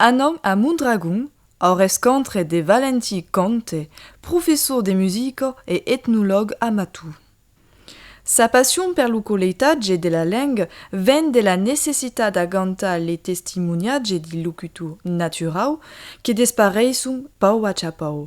Anam a Mondragon au rescontre de Valentin Conte, professor de musica e etnològ a Matou. Sa passion per lo coleitatge de la lenga ven de la necessitat d'agantar le testimoniatge de locutor naturau que despareisson pauc a chapau.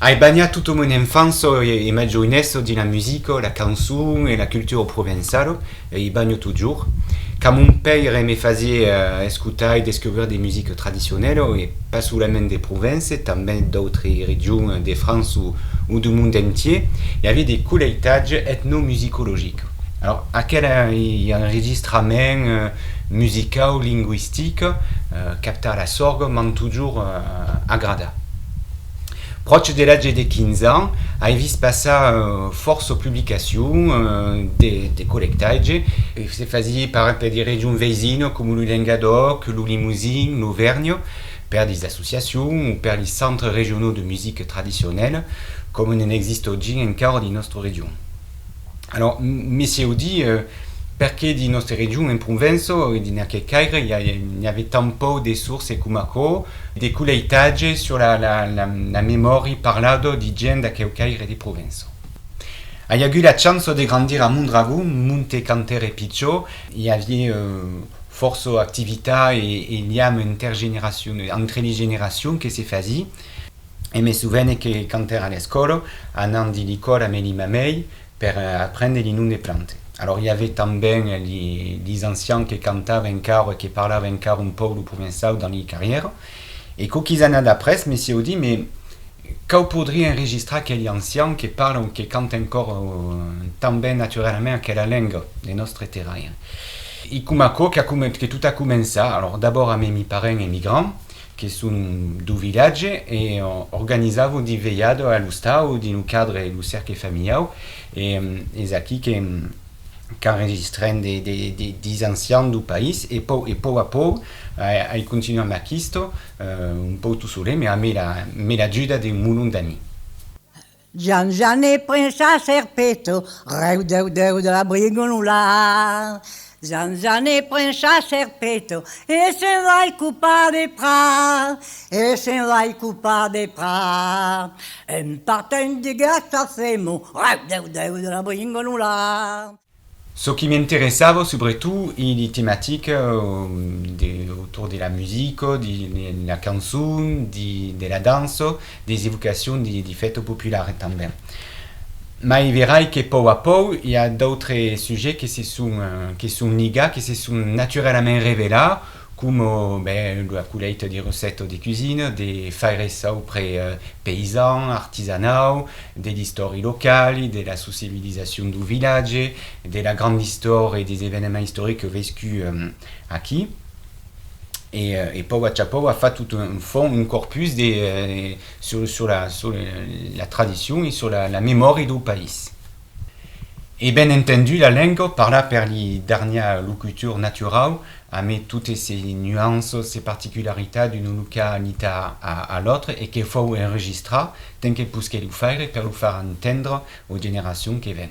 Ai banhat tota mon enfança e ma joinessa dins la musica, la cançon e la cultura provençala, e i banho totjorn. Quand mon paire me fasié escotar e descobrir de musica tradicionela, e pas solament de Provence, tanben d'autres regions de França o du monde entier, i avié de colheitatge etnomusicologic. Alors, aquel ei un registrament musicau, linguistic, captar la sorga m'an totjorn agradat. Pròche de l'atge de 15 ans, ai vist passar fòrça publicacion de collectatge, se fasié par exemple de regions veisina coma lo Lengadòc, lo Limousin, l'Auvernha, per de associacion o per de centres regionaux de musica tradicionèla, coma n'en existe oggi encara dins nòstra region. Alors, messieu di, perqué dins nòste region, en Pronvenço, dins aquel caire, n'i ave tant pauc de sources coma aquò, de coleitatge sur la memòri parlado di gent d'aqueu caire de Provenço. Ai agut la chanço de grandir a Mondragon, Monte Cantere Picciò, i avié fòrça activitat e liam entre li generacions que se fasi. e me sovene que quand èra a l'escòla, anant de licòla me li mamei per aprendre li nom de plante. Alors i avè tanben lis ancians que cantava encara e que parlava encara un pauc lo provençau dans li carriera. E quauquis annadas après me sieu dit, mais cau podrir enregistrar aqueli ancian que parla o que canta encora tan ben naturalament aquela lenga de nòstre terraire. I coma aquò que tot a començar, alors d'abord a me mi parents emigrants, que son dau vilatge e organizavo de velhada a l'ostau dins lo cadre de lo Cercle Familiau e es aquí que qu'enregistrem de des ancians dau país e pòu e pòu a pòu ai continuam aquistò un pòu tot solet me la me l'ajuda de molon d'ami. Jan Jane pren sa serpeta, rèu dèu dèu de la brigonula. Jan Jane pren sa serpeta e se'n vai copar de prat, e se'n vai copar de prat. En partent de Gastafemo, rèu dèu dèu de la brigonula. Çò qui m'interessava subretot ei de tematica autour de la musica, de la cançon, de la dança, des evocacions de fèta populara tanben. Mai verai que pòu a pòu i a d'autres sujets que se son ligats, que se son naturalament revelats coma ben ua colèita de receta de cuisina, de faires au près paysan, artisanau, de l'istòri locali, de la sociabilisacion dau vilatge, de la granda istòria e des evenements istorics vescuts aquí. E pòu a chapòu a fat tot un fond, un corpus de sur la tradicion e sur la memòria dau país. E ben entendu la lengo parla per li darnièr locutor naturau ame totes se nuanços se particularitat d'una localita a l'autre e que fou enregistrar ten que posquer lo faire per lo far entendre aux generacions que ven.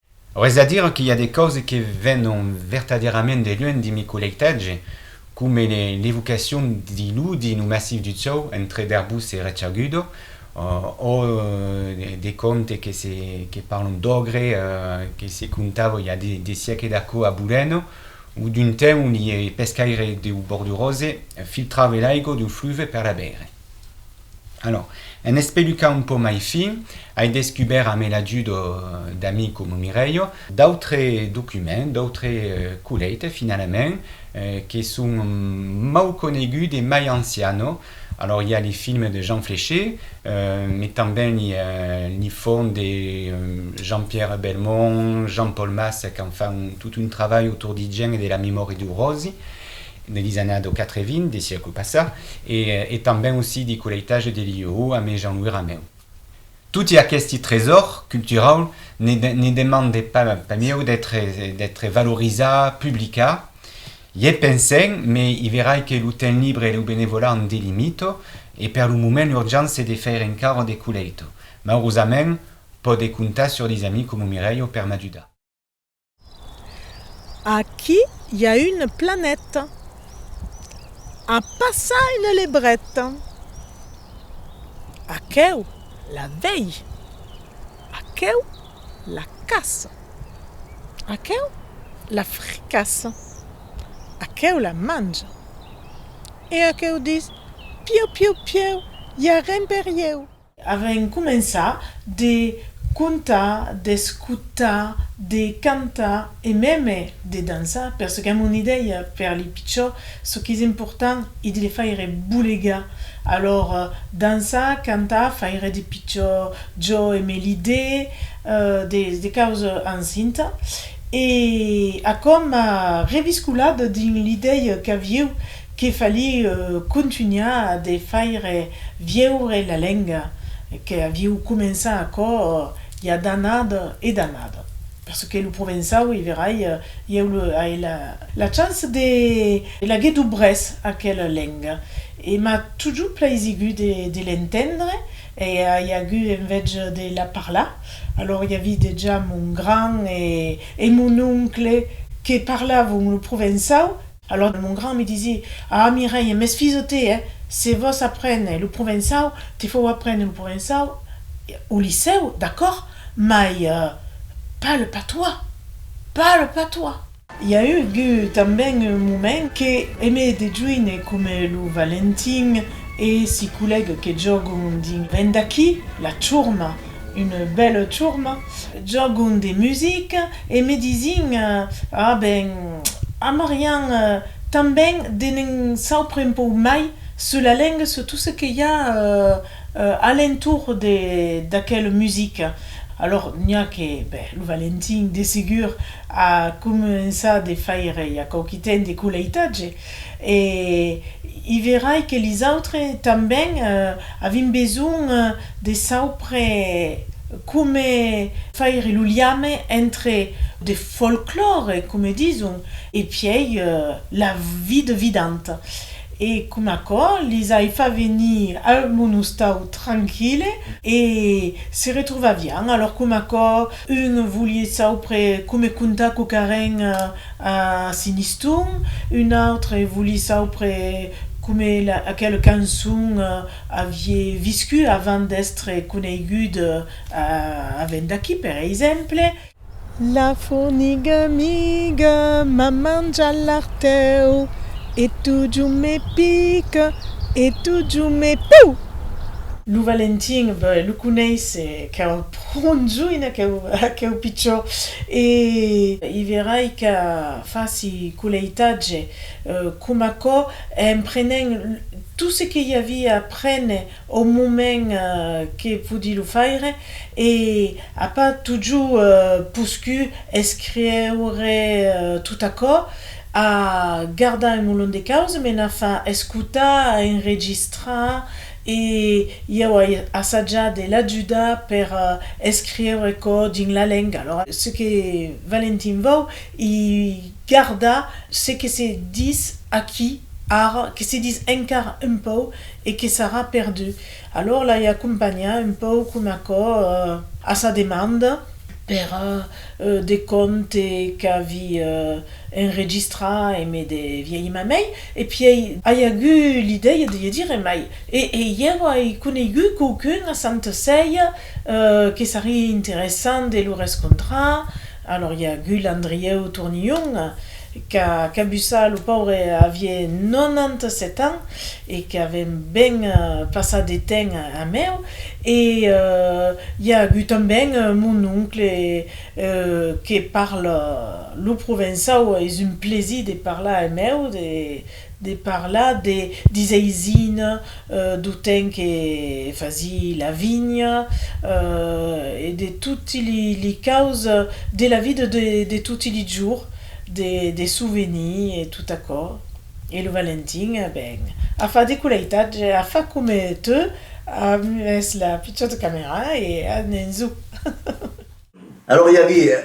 Au reste a dire que i a de causes que venon vertadèrament de luènh de mi collectatge, coma l'evocacion de l'Oudi no massif du Cèu entre Derbús e Rechagudo, ò de contes que parlon d'ogre que se contava i a de siècles d'aquò a Bulèno, o d'un temps ont li pescaire deu Bordurose filtrave l'aigo deu fluve per la beire. Alò, en espelucar un pauc mai fin, ai descubèrt amé l'ajuda d'amics coma Mireio, d'autres documents, d'autres colhèites finalament, que son mau coneguts e mai ancianos, alò i a li films de Jean Fléché, mai tanben i a li fòrn de Jean-Pierre Belmont, Jean-Paul Masse qu'an fan tot un travalh autour d'I Gèn e de la memòria d'U Ròsi, de Lizana do Catrevin, de siècle passat, e tanben aussi de Coleitage de Liuhou amé Jean-Louis Rameu. Toti aqueste tresòr culturau ne demande pas mieu d'ètre valorizat, publicat. Ié pensèm, me i verai que lo temps libre e lo benevolat an de limito, e per lo moment l'urgent se de faire encara de Coleito. Maurosament, pòde comptar sur des amis coma Mireio per m'ajudar. Aquí i a un planet. A passar un lebret. Aqueu la vei. Aqueu la caça. Aqueu la fricassa. Aqueu la manja. E aqueu dis, Pieu, pieu, pieu, i a ren per ieu. Avèm començat de contar, d'escotar, de cantar e mème de dançar perçò qu'èm una idèia per li pichò, çò qu'es important e de le faire bolegar. Alòra dançar, cantar, faire de pichò jo e me l'idè de causa encinta e a coma reviscolat dins l'idèia qu'avieu Que fali contunhar de faire vieure la lenga que aviu començar aquò i a d'anada e d'anada. Perçò que lo provençau, i verai, ieu ai la chance de laguer dubrés aquela lenga e m'a totjou plaisigut de l'entendre e ai agut enveja de la parlar. Alòr i avi dejà mon grand e mon oncle que parlavon lo provençau Alòr mon gran me disié, Ah, Mireille, m'es fils o te, eh? Se vòs aprene lo provençau, te fau aprene lo provençau au licèu, d'acòrd, mai pas le patois! Pas le patois! I a eu tanben un moment que Aimé de Jouine, coma lo Valentin e si collègues que jògon dins Vèn d'aquí, La Churma, Une bèla turma, jògon de musica e me disi'n, Ah ben, a Marian tanben de ne'n saupre un pauc mai sus la lenga, sus tot ce que i a a l'entorn d'aquela musica. Alòr n'i a que, ben, lo Valentin, de segur, a començat de faire ja quauqui temps de coleitatge. E i verai que lisautre tanben avim besonh de saupre come faire lo liame entre de folclore, come dison, e piei la vida vidanta. E com aquò lis ai fa venir a un ostau tranquille e se retrovavián. Alòr com aquò un volie saupre come contar quauquaren A Siniston, un autre voli saupre come aquela cançon avie viscut avant d'estre coneigud a Vendaquí, per exemple. La forniga amiga m'a manjat l'artèu e totjorn me pica e totjorn me pèu! Lo Valentin, ben, lo coneisse, qu'èra Conjunh aqueu pichó e. I verai que faci coleitatge com aquò en prenent tot ce que i avia a prene au moment que podi lo faire e a pas tojo poscut escrieure tot aquò a gardar un molon de causes me n'a fa escotar, enregistrar E ieu ai assajat de l'ajudar per escriure aquò dins la lenga. Alora, ce que Valentin vòu i gardar ce que se dis aquí ara, que se dis encara un pauc e que sarà perdut. Alora l'ai acompanhat un pauc coma aquò a sa demanda per de conte qu'avi enregistrat e me de viei mamei, e piei ai agut l'idèia de lhe dire, mai, e ieu ai coneigut quauqu'un a Santa Ceia que sarie interessant de lo rescontrar, alòr i a agut l'Andrieu Tournillon qu'a cabussat, lo paure avie 97 ans, e qu'avèm ben passat de temps amb eu, e i a agut tanben mon oncle que parla lo provençau, es un plaisir de parlar amb eu, de parlar de des aisina, do temps que fasi la vinha e de toti li caus de la vida de toti li jours, des souvenirs e tot aquò. E lo Valentin, a ben, a fa de coleitatge, a fa come tu, a mes la pichota camera e a n'en zo. Alòra i aviá,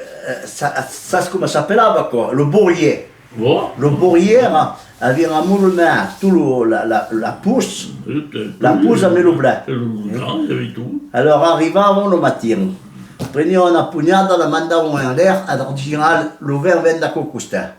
sas coma s'apelava aquò? Lo Bourier. Lo Bourier era, aviá una mona mea, tu lo, la, la, la pus, la pus a mes lo blà. Alòra arrivavan lo matin, prenián una punhada, la mandavan enlèr a Dardigal, lo vèr vèn d'aquò costat.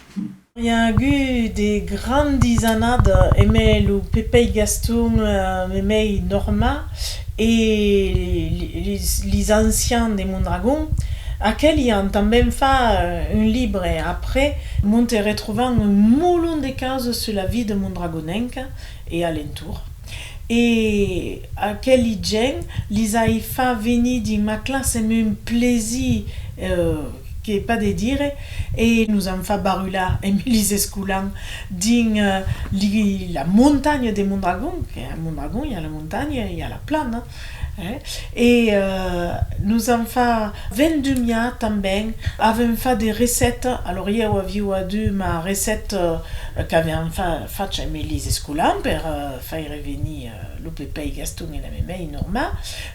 I a agut de grandis annadas emé lo Pepei Gaston memei Norma e lis ancians de Mondragon. Aqueli an tanben fa un libre après m'onte retrovan un molon de causas sus la vida mondragonenca e a l'entorn, e aqueli gèn lis ai fa venir dins ma classe me un plaisir que pas de dire, e nos an fa barular emb lis escolan dins li la montanha de Mondragon, que a Mondragon i a la montanha e i a la plana. E nos an fa vendumiar tanben, avèm fa de recette, alors ieu aviu adu ma recette qu'aviam facha e me lis escolan per faire venir lo Pepei Gaston e la Memei Norma,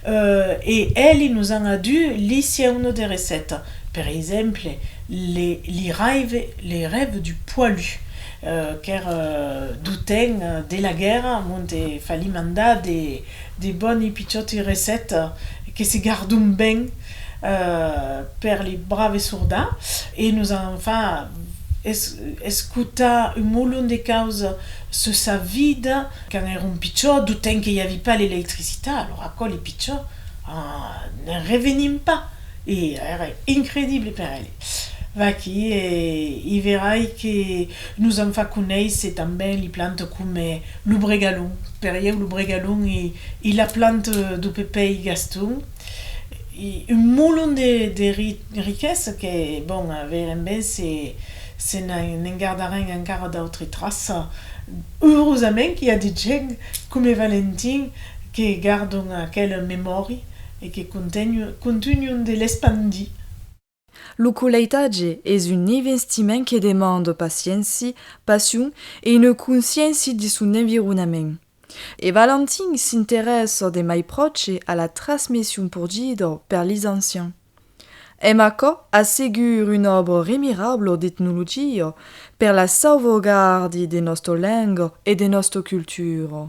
e èli nos an adu li sieuno de recette, per exemple, li raive, les rêves du poilu, qu'ère d'o temps de la guèrra, monte fallim andar de. De boni pichòti recèta que se gardon ben per li brave sorda e nos an fa escotar un molon de causa sus sa vida quand èron pichò, d'o temps que i avi pas l'electricitat, alors aquò li pichò n'en revenin pas e èra incredible per eles. Vaquí e i verai que Nos an fach conéisser tanben li plante coma lo bregalhon, per ieu lo bregalhon ei la plante do Pepèi Gaston, un molon de riquesa que, bon, veirem ben se ne'n gardarem encara d'autres traças. Eurosament qu'i a de gents coma Valentin que gardon aquela memòria e que contunhon de l'espandir. Lo coleitatge es un investiment que demande pacienci, passion e une conscienci de son environament. E Valentin s'interessa de mai pròche a la trasmission pur dida per lis ancians. Èm aquò a segur un òbre remirable d'etnologia per la sauvegarde de nòsta lenga e de nòsta cultura.